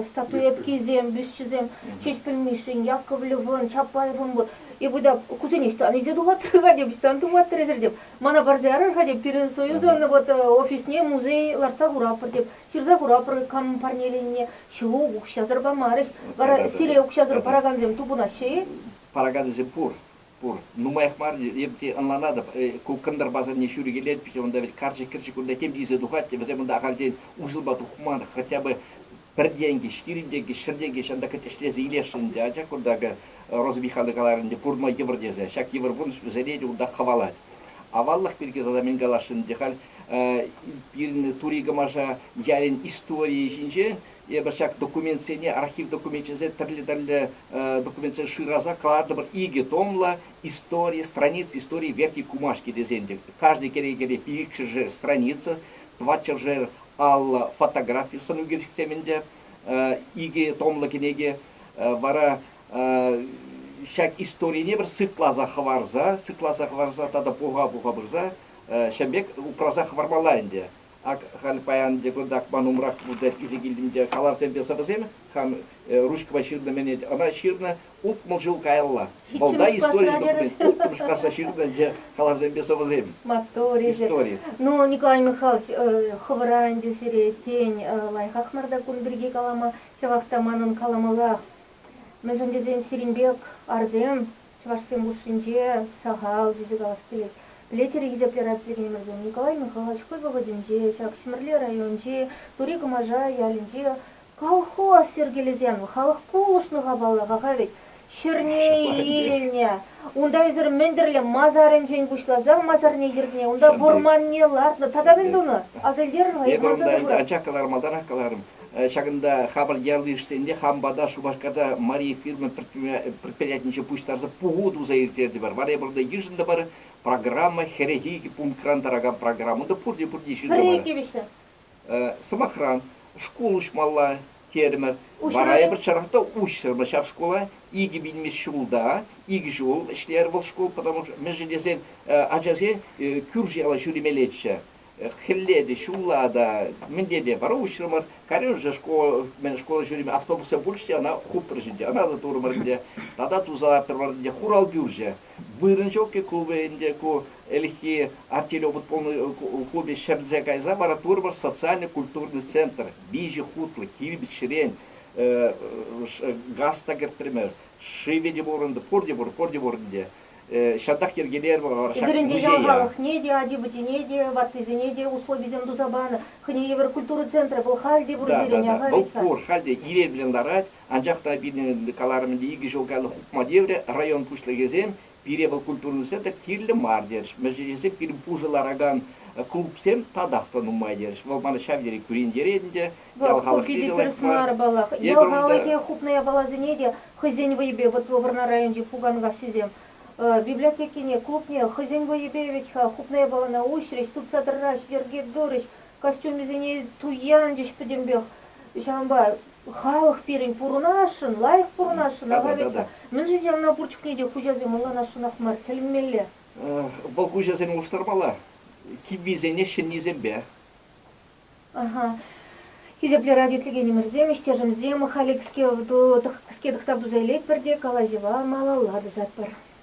Speaker 1: статуэткисем, бюсчӗсем, Ҫеҫпӗл Мишшин, Яковлевӑн, Чапаевӑн пур. Эпӗ та кусене ӑҫтан илсе тухаттӑр-ха тем, ӑҫтан туматтӑр эсир тем, Мана парса ярар-ха теп, пирӗн союзӑн вот э, офисне музей лартса хуратпӑр теп. Ҫырса хуратпӑр камӑн парнеленине. Ҫук, укҫасӑр памарӗҫ. Вара сире укҫасӑр паракансем тупӑнаҫҫӗ-и? Паракансем пур. Пур. Нумаях мар эп те ӑнланатӑп, ку кӑнтӑр пасарне ҫӳрӗ килет, пиҫе унта вӗт карчӑк-кӗрчӗк кунта тем тиесе тухать те вӗсем унта ахальтен уҫӑлма тухман, хотя бы пӗр тенкӗ ҫирӗн тенкӗ, ҫӗр тенкӗ ҫантӑк ӗҫлесе илесшӗн ӗнтӗ, анчах кунта акӑ Роза Михайловна каларӗ ӗнтӗ пурӑнма йывӑр тесе, ҫак йывӑр пурнӑҫ вӗсене те унтах хӑвалать. Аваллӑх пирки тата мӗн каласшӑн ӗнтӗ халь пирӗн Тури Кӑмаша ялӗн историйӗ ҫинче, эпӗ ҫак документсене, архив докуменчӗсене тӗрлӗ-тӗрлӗ документсем шыраса кӑлартӑмӑр, икӗ томлӑ истори, страница истории Верхней Кумашки тесен те, каждый кӗрекере икҫӗшер страница, тӑватҫӗршер паллӑ фотографи сӑну кӳрсетсем ӗнтӗ. Икӗ томлӑ кӗнеке вара ҫак историне пӗр сыхласа хӑварса, сыхласа хӑварса тата пуха-пуха пырса ҫӗм пек упраса хӑвармалла ӗнтӗ. Ак халь паян те кунтах ман умрах пулса илсе килтӗм те калавсемпе сӑвӑсем, хам ручкӑпа ҫырнӑ-мӗнет, ӑна ҫырнӑ, Утмӑл ҫул каялла Вӑлта истори документ Улттӑмӗш класра ҫырнӑ ӗнтӗ калавсемпе сӑвӑсем. Маттур, истори. Ну, Николай Михайлович, хӑвӑра ӗнтӗ сире, тен, лайӑхах мар та кун пирки калама, ҫавах та манӑн каламаллах. Мӗншӗн тесен сирӗн пек арсем чӑвашсем хушшинче сахал тесе калас килет. Пӗлетӗр-и, хисеплӗ радиотехномӗрсем, Николай Михайлович хӑй вӑхӑтӗнче ҫак Ҫӗмӗрле районӗнчи Тури Кӑмаша ялӗнче Колхоз йӗркелесен халӑх пулӑшнӑ-ха паллах-ха вӗт, ҫӗрне илнӗ. Унта эсир мӗн-тӗрлӗ масарӗнчен пуҫласа масарне кӗртнӗ, унта вӑрманне лартнӑ. Тата мӗн тунӑ? Аса илтерӗр-ха, эп манса курӑр. Ача кӑлармалларах каларӑм. Ҫакӑнта хапӑл ял йышӗсенче хам пата Шупашкарта Мария фирма предприятинче пуҫтарса пуху туса ирттертӗмӗр. Вара эпир унта йышӑнтӑмӑр. Программа, хӗрӗхи пунктран тӑракан программа та пурте-пурте ҫыртӑмӑр. Пӗрре икӗ вӗҫҫӗ. Сӑмахран, шкул уҫмалла терӗмӗр. Вара эпӗрчченех та уҫрӑмӑр ҫав шкула. Икӗ вилмест ҫулта икӗ ҫул ӗҫлерӗ вӑл шкул, потому что мӗншӗн тесен ачасен кӳрши-яла ҫӳремеллеччӗ. Хӗлле те, ҫулла та, мӗнле те вара уҫрӑмӑр. Калерӗмӗр школа, мӗн школа ҫӳремен автобуссем пулчӗҫ те, ӑна хупрӗҫ ӗнтӗ, ӑна та турӑмӑр ӗнтӗ. Тата туса лартрӑмӑр ӗнтӗ, хурал пӳрчӗ. вырӑн ҫук-и ку ӗнтӗ, ку ӗлӗкхи артиллеропа хупи ҫӗрсе кайса вара Турмӑш социально-культурный центр виҫӗ хутлӑ кирпӗчрен газ та кӗртрӗмӗр, шывӗ те пурӑнтӑ, пурте пур, пурте пур ӗнтӗ. Ҫантах йӗркелерӗмӗр. Пӗсеренке ҫамралӑхне те, ачи-пӑчине те, ваттисене те условисем туса панӑ. Хӑйне евӗр культура центрӗ вӑл халь те пур сирӗн, ахаль-и-ха? Вӑл пур, халь те ирех-лӗн ларать. Анчах та пирӗн каларӑм ӗнтӗ икӗ ҫул каялла хупма тиврӗ. Район пуҫлӑхӗсем пире вӑл культурӑн сӗтӗ кирлӗ мар терӗҫ. Мӗншӗн тесен пирӗн пушӑ ларакан клубсем татах та нумай терӗҫ. Вӑл мана ҫав тери кӳрентерет ӗнтӗ. Ял халӑх питӗ тӗрӗс мар, паллах. Ял халӑхӗ хупнӑ япаласене те хӑйсен вӑйӗпе, вӑтлӑ вӑрнар районӗнчи пуканкассисем библиотекине, клубне хӑйсен вӑйӗпе вӗт-ха хупнӑ япалана уҫрӗҫ, тупса тӑрраҫҫӗ, йӗрке турӗҫ, костюмӗсене туянчӗҫ пӗтӗмпех. Ҫавӑнпа Халӑх пирӗн пурӑнасшӑн, лайӑх пурӑнасшӑн, Ахаветка. Мӗншӗн ҫавна пурчӑкне те хуҫасем мӑлланасшӑнах мар, тӗлӗнмелле. Вӑл хуҫасене улӑштармалла, киввисене ҫӗннисемпе. Аха. Хисеплӗ радиотӗлӗкенӗмӗрсем, ӗҫтешӗмсем, халӗ кӗске тӑхтав туса илетпӗр те калаҫӑва малалла тӑсатпӑр.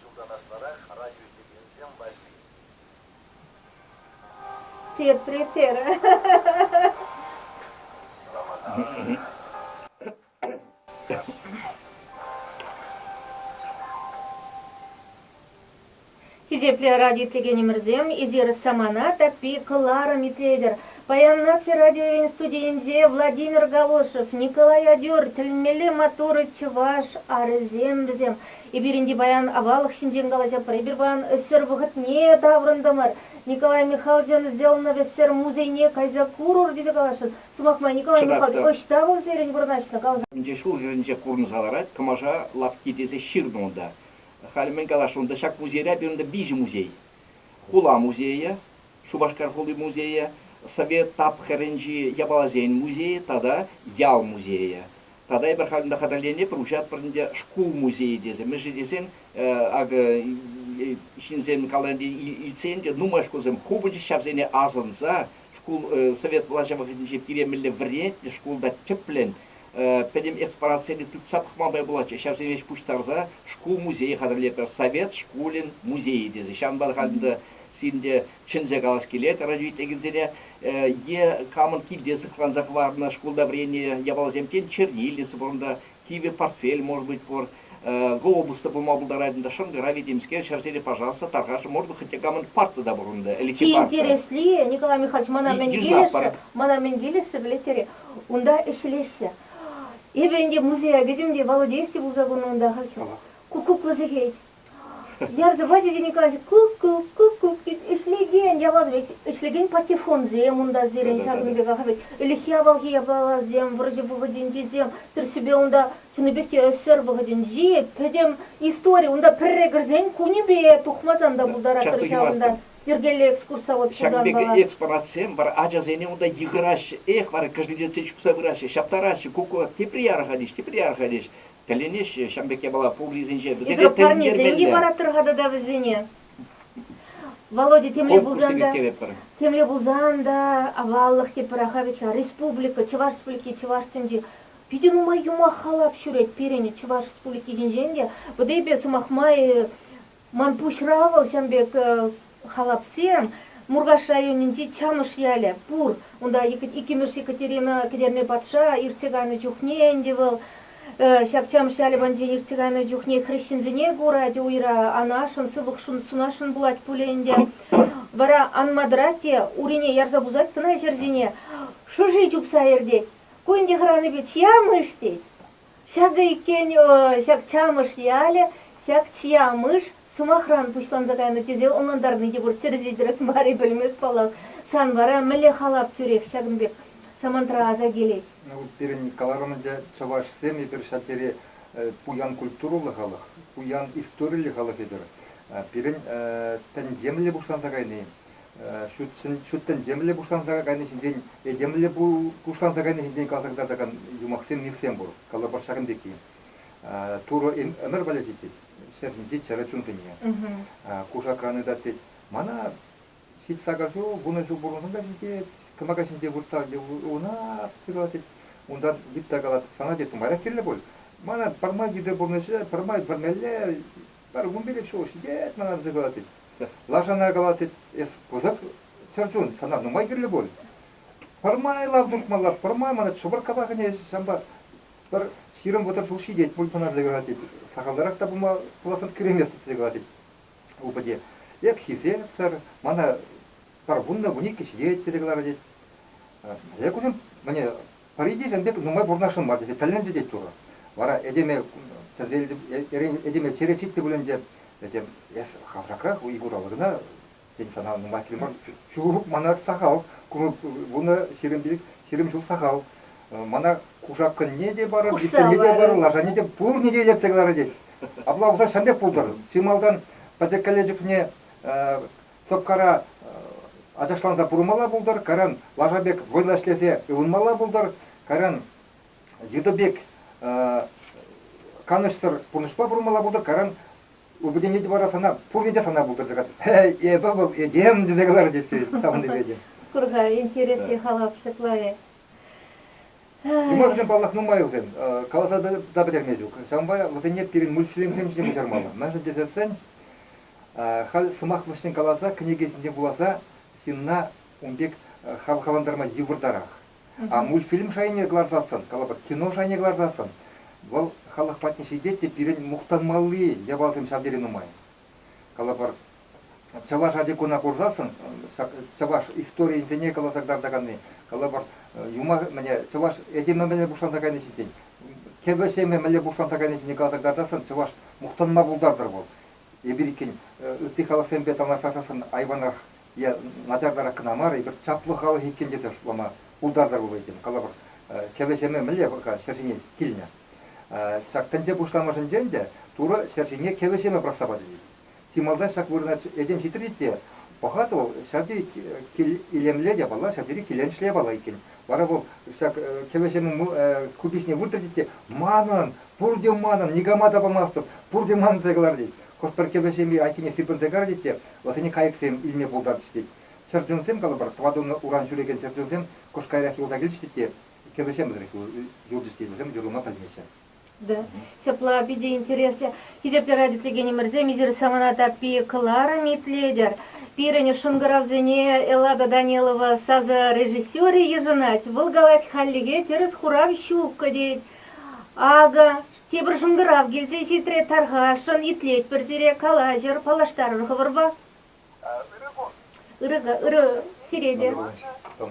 Speaker 1: чунтан аслӑрах радиоиздевенсем валли. Тепре терӗ. Хисеплӗ радиотекенӗмӗрсем, эсир самана таппи кӑларӑм итлетӗр. Паян наци радиоӗн студийӗнче Владимир Галошев, Николай Адюр, тӗлӗнмелле маттур чӑваш арӗсем вӗсем. Эпир ӗнтӗ паян аваллӑх ҫинчен калаҫӑпӑр, эпир паян ӗҫсӗр вӑхӑтне таврӑнтӑмӑр. Николай Михайловичӑн сделанов ӗҫсӗр музейне кайса курӑр тесе каласшӑн. Сӑмах май, Николай Михайлович ӑҫта вӑл сирӗн вырнаҫнӑ? каласа. Ӗнтӗ ҫул-йӗрӗнче курӑнса ларать кӑмаша лавкки тесе ҫырнӑ унта. Халӗ мӗн каласшӑн унта, ҫак музейра пирӗн виҫӗ музей. Хула музейӗ, Шупашкар хули музейӗ, Совет тапхӑрӗнчи япаласен музейӗ тата ял музейӗ. Тата эпир халь ӗнтӗ хатӗрленӗ проҫатпӑр ӗнтӗ шкул музейӗ тесе. Мӗншӗн тесен, акӑ, ҫынсем каланӑ илтсен те нумай шкулсем ху пулчӗҫ ҫавсене асӑнса. Шкул совет влаҫӗ вӑхӑтӗнче пире мӗнле вӗрентнӗ, шкулта тӗплӗн пӗтӗм экспонатсене тытса пӑхма май пулатчӗ, ҫавсене ӗҫ пуҫтарса шкул музейӗ хатӗрлетпӗр, Совет шкулӗн музейӗ тесе. Ҫавӑнпа халь ӗнтӗ сирӗнте чӗнсе калас килет разведчикӗсене, е камӑн килте сыхланса хӑварнӑ шкулта вӗреннӗ япаласем, тен, чернилица пур унта, кивӗ портфель, может быть, пур, глобус та пулма пултарать унта, шӑнкӑравӗ темскер, ҫӗрсене, пожалуйста, тархасшӑ, может быть, хотя камӑн парта та пур унта, или Чи интересли, Николай Михайлович, мана мӗн килӗшрӗ, мана мӗн килӗшрӗ, пӗлетӗр-и, унта ӗҫлеҫҫӗ. Эпӗ ӗнтӗ музея кӗтӗм те Володей пулса курнӑ унта ахальтен. Ку кукла сехет. Я заводите, Николаевич, кук-кук-кук-кук ӗҫлекен, яваплӑ ӗҫлекен патефонсем унта сирӗн ҫакӑн пеках вӗт. Ӗлӗкхи авалхи япаласем, вӑрҫӑ вӑхӑтӗнчисем, тӗрӗссипе унта чӑннипех те ӗҫсӗр вӑхӑтӗнчи пӗтӗм истори. Унта пӗрре кӗрсен кунӗпе тухмасан та пултараттӑр ҫавӑнта. Йӗркеллӗ экскурсовод пулсан Ҫакӑн пек эц паратсем бар, ачасене унта йыхӑраҫҫӗ, эх, вара кӗжлетсе чупса пыраҫҫӗ, ҫаптараҫҫӗ, куккук, тепре ярӑхать-иҫ, тепре ярӑхать-иҫ. Тӗлӗнеҫҫӗ ҫавӑн пек япала пуррисенче. Вӗсемпе парнесем-и параттӑр-ха тата вӗсене? Володя, темле пулсан та, темле пулсан та аваллӑх тепӗр-аха вӗт-ха. Республика, Чӑваш Республики, Чӑваш тӗнчи питӗ нумай юмах халап ҫӳрет пирӗн Чӑваш Республики ҫинчен те. Вӑтипе сӑмах май, Ман пуҫра вӑл ҫын пек халапсем. Муркаш районӗнчи Чанӑш ялӗ пур. Унта иккӗмӗш Екатерина Кӗтерне патша иртсе кайнӑ чухне ӗнтӗ вӑл ҫак Чанӑш ялӗ патӗнче иртсе кайнӑ чухне хресченсене курать уйра, анашӑн сыпӑк сунасшӑн пулать пулӗ ӗнтӗ. Вара анма тӑрать те урине ярса пусать кӑна ҫӗрсене, шӑши чупса иртет. Ку ӗнтӗ хӑранипе чиямыш тет. Ҫакӑ иккен ҫак Чамӑш ялӗ, ҫак чья мыш сӑмахран пуҫланса кайнӑ тесе ӑнлантарни те пур. Тӗрӗс-тӗрӗс мар-и пӗлмест паллах. Сан вара мӗнле халап тӳрех ҫакӑн пек самантра аса килет? Пирӗн каларӑмӑрча чӑвашсем эпир ҫав тери пуян культурӑллӑ халӑх, пуян историллӗ халӑх эпир. Пирӗн тӗнчемле пуҫланса кайни, ҫут тӗнчемлӗ пуҫланса кайни ҫинчен, этемлӗ пуҫланса кайни ҫинчен калӑртатакан юмахсем мифсем пур, калӑпӑш ҫакӑн пекки. Турӑ ӗмӗр пӗлӗчӗ тет, ҫӗр ҫинчи чӗрӗ чунсене. Кушакран ытат тет. Мана ҫич-сакӑр ҫул, вунӑ ҫул пурӑнсам та ҫитет, кӑмака ҫинче выртса уна сырла тет, унтан йытта калать, сана тет, нумайрах кирлӗ пуль, мана пӗрмай йытӑ пурнӑҫӗ, пӗрмай вӗрмелле, Пӗр кун пилӗк ҫул ҫитет мана вӗсем калатать. Лашана калатать, эс пысӑк чӗрчун, сана нумай кирлӗ пуль. Пӗрмай лав туртмалла, пӗрмай мана шӑпӑрккапа кӗнӗ ҫампа пӗр ҫирӗм вӑтӑр ҫул ҫитет пуль мана тесе калатать. Сахалтарах та пулма пуласран киреместӗп тесе калатать упӑте. Эп хисепсӗр, мана пӗр вуннӑ вун иккӗ ҫитет тесе каларӗ тет. Эк, вӗсем мӗне Пӗри те ҫын пек нумай пурӑнасшӑн мар тесе тӗлленчӗ тет Турӑ. Вара этеме тӗлне этеме чӗре чикнӗ пулин те, этем, эс хавшакрах Игурова кӑна, тен, сана нумай кил мар. Ҫук мана сахал курӑм пулнӑ ҫирӗм пилӗк ҫирӗм ҫул сахал. Мана кушаккӑнне те парӑр, липтӗне те парӑр, лашане те пурне те илӗртсе кӑларать тет. Апла пулса ҫын пек пултӑр. Чи малтан пӗчӗккӗлле чухне Тӑккара ачашланса пурӑнмалла пултӑр, кайран лаша пек вӑйлӑ ӗҫлесе ывӑнмалла пултӑр, кайран йытӑ пек канӑҫсӑр пурнӑҫпа пурӑнмалла пултӑр, кайран упӑтенет вара сана, пурне те сана пултӑр, тесе эпӗ вӑл этем тесе каларӗ тесе савӑнтип этем. Курха интереслӗ халап ҫапла-и? Юмахсем, паллах, нумайӑлсем, каласа та пӗтерме ҫук. Ҫавӑнпа вӗсене пирӗн мультфильмсем ҫине куҫармалла. Мӗншӗн тесессӗн Халь сӑмах вӗҫне каласа кӗнеке ҫинче вуласа ҫынна ун пек хавхалантарма йывӑртарах. А мультфильм шайне кӑларсассӑн, калӑпӑр, кино шайне кӑларсассӑн, вӑл халӑх патне ҫитет те пирӗн мухтанмалли япалсем ҫав тери нумай. Калӑпӑр, чӑваш ачи-куна курсассӑн чӑваш историйӗсене каласа кӑтартаканни, калӑпӑр, юмах мӗне чӑваш этемӗ мӗне пуҫланса кайни ҫинчен, кӗвӗ-ҫемӗ мӗнле пуҫланса кайни ҫинчен каласа кӑтартассӑн чӑваш мухтанма пултартӑр вӑл. эпир иккен ытти халӑхсемпе танлаштарсассӑн айванрах е начартарах кӑна мар, эпир чаплӑ халӑх иккен тесе шутлама пултартар вӑл этем. Калӑпӑр, кӗвӗ-ҫемӗ мӗнле вӑл-ха ҫӗр ҫине килнӗ? Ҫак тӗнче пуҫламӑшӗнче ӗнтӗ Турӑ ҫӗр ҫине кӗвӗ-ҫемӗ пӑрахса пачӗ-тет. Чи малтан ҫак вырӑна этем ҫитрӗ-и те пӑхатӑп, вӑл ҫав тери илемлӗ япала, ҫав тери киленӗҫлӗ япала иккен. Вара вӑл ҫак кӗвӗҫӗмӗн куписне выртрӗчӗ те «Манӑн! Пурте манӑн! Никама та памастӑп! Пурте манӑн!» тесе каларӗ тет. Хӑш-пӗр кӗвӗҫӗми айккине сирпӗнсе карчӗ те вӑсене кайӑксем илме пултарчӗҫ тет. Чӗрчунсем, калӑпӑр, тӑватуннӑ уран ҫӳрекен чӗрчунсем кӑш каярах юлса килчӗҫ те кӗвӗҫем вӗсерех юлчӗҫ те вӗсем юрлама пӗлмеҫҫӗ. Да. Ҫапла питӗ интереслӗ. Хисеплӗ радиотекенӗмӗрсем, эсир самана таппи кӑларӑм итлетӗр. Пирӗн шӑнкӑравсене Эллада Данилова сасӑ режиссерӗ йышӑнать. Вӑл калать, хальлӗхе тӗрӗс хурав ҫук тет. Акӑ, тепӗр шӑнкӑрав килсе ҫитрӗ. Тархасшӑн, итлетпӗр сире, калаҫӑр, паллаштарӑр хӑвӑрпа. Ырӑ кун. Ырӑ, ырӑ сире те. Ырӑ кун.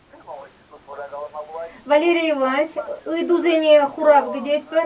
Speaker 1: Валерий Иванович, ыйтусене хурав кӗтетпӗр.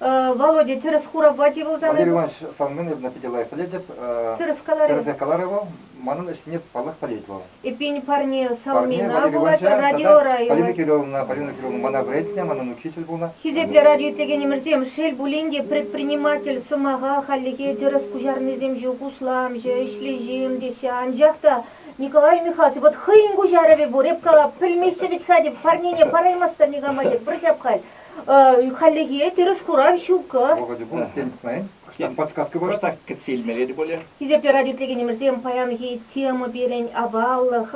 Speaker 1: Володя, тӗрӗс хурапа тивӑлсан... Владимир Иванович, сан номерна питӗ лайӑх пӗлетӗп. Тӗрӗс каларӗ. Тӗрӗс каларӗ вӑл. Манӑн ӗҫне паллах пӗлет вӑл. Эппин, парне Салмина пулать радио районӗ. Полина Кирилловна, Полина Кирилловна мана вӗрентнӗ, манӑн учитель пулнӑ. Хисеплӗ радио итлекенӗмӗрсем, шел пулин те, предприниматель сӑмаха хальлӗхе тӗрӗс куҫарнисем ҫук, усламҫӑ, ӗҫлӗ ҫын теҫҫӗ. Анчах та, Николай Михайлович, вӑт хӑйӗн куҫарӑвӗ пур, эп кала, пӗлмеҫҫӗ вӗт-ха, теп, парнене параймастӑр никама, теп, пӗр ҫап халь. Хальлӗхе тӗрӗс хурав ҫук. Вӑхӑчӗ пур, тен, пӑхнӑ-и? подсказка пур. Просто кӗтсе илмелле те пулӗ. Хисеплӗ радиотелекенӗмӗрсем, паянхи тема пирӗн аваллӑх,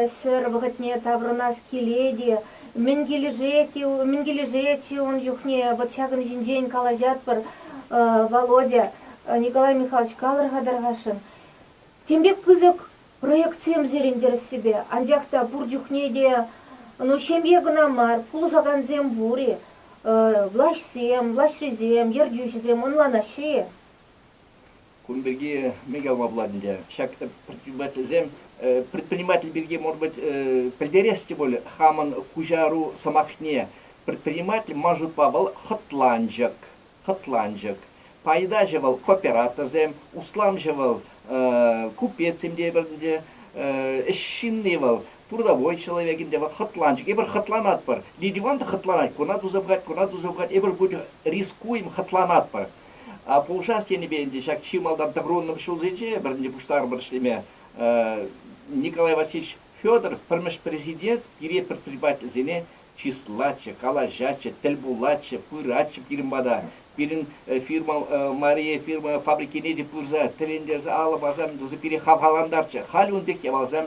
Speaker 1: ӗсӗр вӑхӑтне таврӑнас килет-и, мӗн килӗшет-и, мӗн килӗшет-ши ун чухне, вот ҫакӑн ҫинчен калаҫатпӑр, Володя. Николай Михайлович, калӑр-ха, тархасшӑн, тем пек пысӑк Проектсем сирӗн тӗрӗссипе, анчах та пур чухне те, ну, ҫемье кӑна мар, пулӑшакансем пур-и? Влаҫсем, влаҫрисем, ертӳҫӗсем ӑнланаҫҫӗ-и? Кун пирки мӗн яваплать ӗнтӗ ҫак предпринимательсем? Предприниматель пирки, может быть, пӗлтерес те пуль хамӑн куҫару сӑмахне. Предприниматель ман шутпа вӑл хӑтланчӑк. Хӑтланчӑк. Пайтаҫӑ вӑл кооператорсем, усламҫӑ вӑл купецсем тейпӗр ӗнтӗ. Ӗҫҫынни вӑл, трудовой человек ӗнтӗ, вӑл хӑтланчӑк. Эпир хӑтланатпӑр. Лидиван та хӑтланать, куна туса пӑхать, куна туса пӑхать. Эпир ку чух рискуем, хӑтланатпӑр. А пулӑшас тенипе ӗнтӗ ҫак чи малтан тӑпрунӑм ҫулсенче пӗр ӗнтӗ пуҫтарӑпӑр ӗҫлеме. Николай Васильевич Федоров пӗрмӗш президент пире предпринимательсене чыслатчӗ, калаҫатчӗ, тӗл пулатчӗ, пыратчӗ пирӗн пата. Пирӗн фирма Мария фирма фабрикине те пырса тӗлӗнтерсе алӑ парса тӑсса пире хавхалантарчӗ. Халӗ ун пек япаласем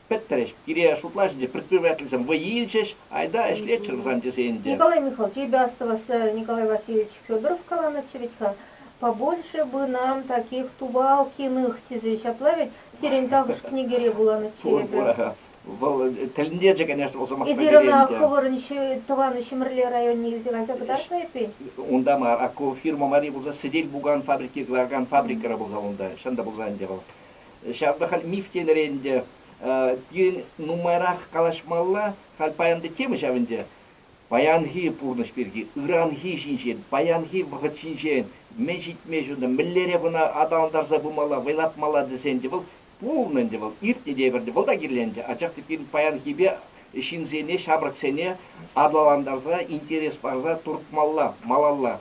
Speaker 1: пӗттрӗҫ. Пире шутлаҫҫӗ те, предпринимательсем вӑй илчӗҫ. Айта ӗҫлеччӗр сан тесе ӗнтӗ. Николай Михайлович, эпӗ астӑвас, Николай Васильевич Федоров каланӑччӗ вӗт-ха, побольше бы нам таких Тубалкиных тесе ҫапла вӗт, сирӗн тахӑш кӗнекере вуланӑччӗ эпӗ. Вӑл тӗлӗнте чӗкӗнес сӑмах Эсир ӑна хӑвӑрӑн тӑван Ҫӗмӗрле районне илсе кайса кӑтартнӑ эппин? Унта мар, ак ку фирма мари пулса сӗтел-пукан фабрики кӑларакан фабрикӑра пулса унта, чӑн та пулса ӗнтӗ вӑл. Ҫав та халь миф тенӗрен ӗнтӗ. Пирӗн нумайрах калаҫмалла, халь паянти тема ҫав ӗнтӗ. Паянхи пурнӑҫ пирки, ыранхи ҫинчен, паянхи вӑхӑт ҫинчен мӗн ҫитме ҫунтӑр, мӗнлере кӑна аталантарса пымалла, вӑйлатмалла тесен те вӑл Пулнӑ ӗнтӗ вӑл, иртнӗ те ӗпӗрте вӑл та кирленчӗ, анчах те пирӗн паянхипе ҫынсене, ҫамрӑксене аталантарса, интерес парса туртмалла, малалла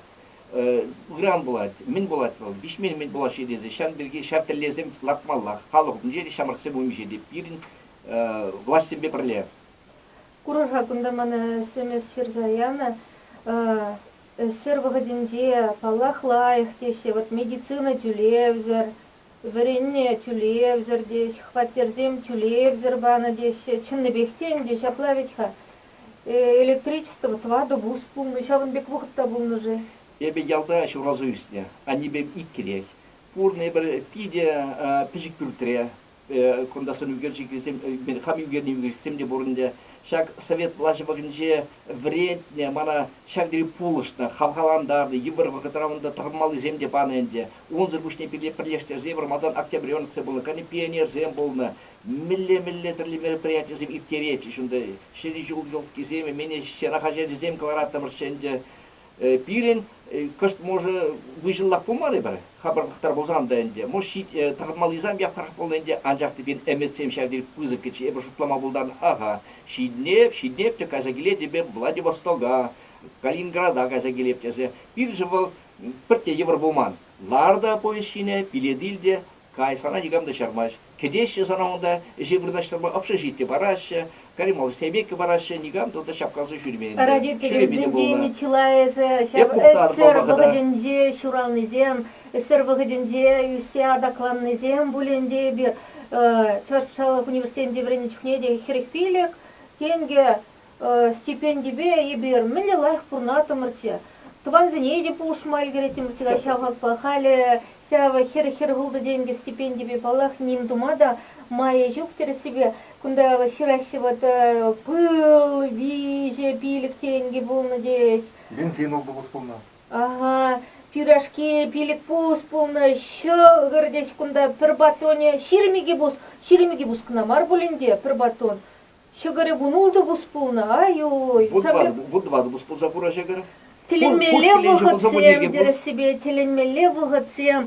Speaker 1: ыран пулать. Мӗн пулать вӑл, виҫмен-мӗн пулаҫҫӗ тесе ҫавӑн пирки ҫав тӗллевсем лартмаллах, халӑх умӗнче те, ҫамрӑксем умӗнче те пирӗн влаҫсемпе пӗрле. Курӑр-ха кунта мана сӗмес ҫырса янӑ. Ӗҫсӗр вӑхӑтӗнче, паллах, лайӑх теҫҫӗ. Вӑт медицина тӳлевсӗр Вӗреннӗ тӳлевсӗр теҫ, хваттерсем тӳлевсӗр панӑ теҫҫӗ. Чӑннипех те ӗнтӗ ҫапла вӗт-ха. Электричество, тӑватӑ бус пулнӑ, ҫавӑн пек вӑхӑт та пулнӑ-ши? Эпӗ ялта ҫуралса ӳснӗ, аннепем ик килех. Пурӑннӑ эпӗ питӗ пӗчӗк пӳртре. Кунта сӑн ӳкерчӗкӗсем, хам ӳкернӗ ӳкерчӗксем те пур ӗнтӗ. Ҫак Совет влаҫӗ вӑхӑтӗнче вӗрентнӗ мана ҫак тери пулӑшнӑ, хавхалантарнӑ. Йывӑр вӑхӑтра унта тӑрмаллисем те панӑ ӗнтӗ. Унсӑр пуҫне пире пӗрлештерсе вӑрмантан октябререн тухса пурӑнакан пионерсем пулнӑ. Мӗнле-мӗнле тӗрлӗ мероприятисем ирттеретчӗҫ унта. Ҫӗнӗ ҫул елкисем, эмене ҫӑра хаҫачӗсем кӑлараттӑмӑрччӗ ӗнтӗ. Пирӗн кӑшт, може, выҫӑллах пулман-и пӗр? Хапӑр хӑтар пулсан та ӗнтӗ. Может, тӑхӑнмаллисем япӑхрах пулнӑ ӗнтӗ, анчах текен ӗмӗтсем ҫав тери пысӑкчӗ. Эпӗ шутлама пултарнӑ-ха, ҫитӗнеп, ҫитӗнеп те кайса килетӗп эп Владивостока, Калининграда кайса килеп тесе. Пирӗншӗн вӑл пӗртте йывӑр пулман. Лар та повеҫ ҫинӗ, билет ил те кай, сана никам та чармасть. Кӗтеҫҫӗ сана унта, ӗҫе вырнаҫтарма ӑпшӑ-ҫитнӗ параҫҫӗ, Карималлӑ Сейбекке параҫҫӗ, никам та унта чапкаласа ҫӳрмен ӗнтӗ. Родительсенчен тени чылайӑшӗ ҫав ӗҫсӗр вӑхӑтӗнче ҫуралнисем, ӗҫсӗр вӑхӑтӗнче ӳссе атакланнисем пуль ӗнтӗ эпир. Чӑваш патшалӑх университечӗнче вӗреннӗ чухне те хӗрӗх пилӗк тенкӗ стипендипе эпир мӗнле лайӑх пурӑнаттӑмӑр-че. Тӑвансене те пулӑшма ӗлкӗреттӗмӗр тӗк ҫав хакпа халӗ ҫав хӗр-хӗр хӑлтӑ-тенкӗ стипендипе, паллах, ним тума та майӗ ҫук тӗрӗссипе. Кунта ҫыраҫҫӗ вӑт, пыл, виҫӗ пилӗк тенкӗ пулнӑ теҫ. Бензин ултӑ хут пулнӑ. Аха, пюрешки пилӗк пус пулнӑ, ҫӑкӑр теҫ кунта, пӗр батонӗ, ҫирӗм икӗ пус, ҫирӗм икӗ пус кӑна мар пулин те, пӗр батон. Ҫӑкӑрӗ вун ултӑ пус пулнӑ. Ай-ой. Вун вун тӑватӑ пус пулса пура ҫӑкӑр. Тӗлӗнмелле вӑхӑтсем тӗрӗссипе тӗлӗнмелле вӑхӑтсем.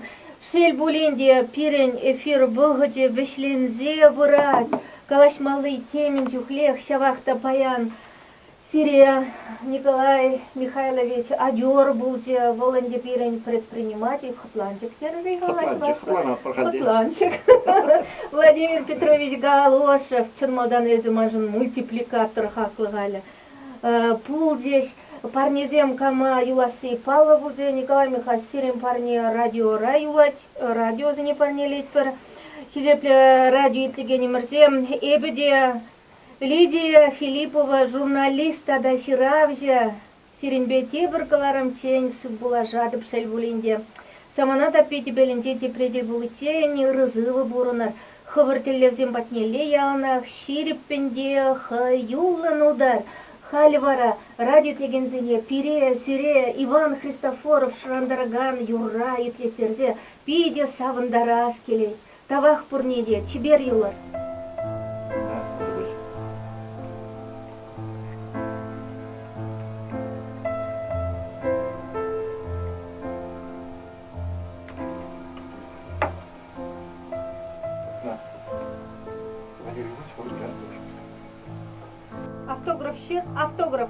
Speaker 1: Шел пулин те, пирӗн эфир вӑхӑчӗ вӗҫленсе пырать. Калаҫмалли темӗн чухлех ҫавах та паян. Сире, Николай Михайлович, адьор пулчӗ, вӑл ӗнтӗ пирӗн предприниматель. Хӑтланчӑк терӗр-и, Николай Хӑтланчӑк. Владимир Петрович Галошев, чӑн малтан эсӗ маншӑн мультипликатор хаклӑ халӗ пулчӗҫ. Парнесем кама юласси паллӑ пулчӗ. Николай Михайлович, сирӗн парне радиора юлать, радиосене парнелетпӗр. Хисеплӗ радио итлекенӗмӗрсем, эпӗ те Лидия Филиппова журналист тата ҫыравҫӑ, сирӗнпе тепӗр кӑларӑмччен сывпуллашатӑп шел пулин те. Самана таппи тӗпелӗнче тепре тӗл пуличчен ырӑ-сывӑ пурӑнӑр, хӑвӑр тӗллевсем патнелле яланах ҫирӗппӗн те хӑюллӑн утар. Халь вара радио итлекенсене пире, сире Иван Христофоров шӑрантаракан юрра итлеттерсе питӗ савӑнтарас килет. Тавах пурне те, чипер юлӑр! Автограф ҫыр, автограф.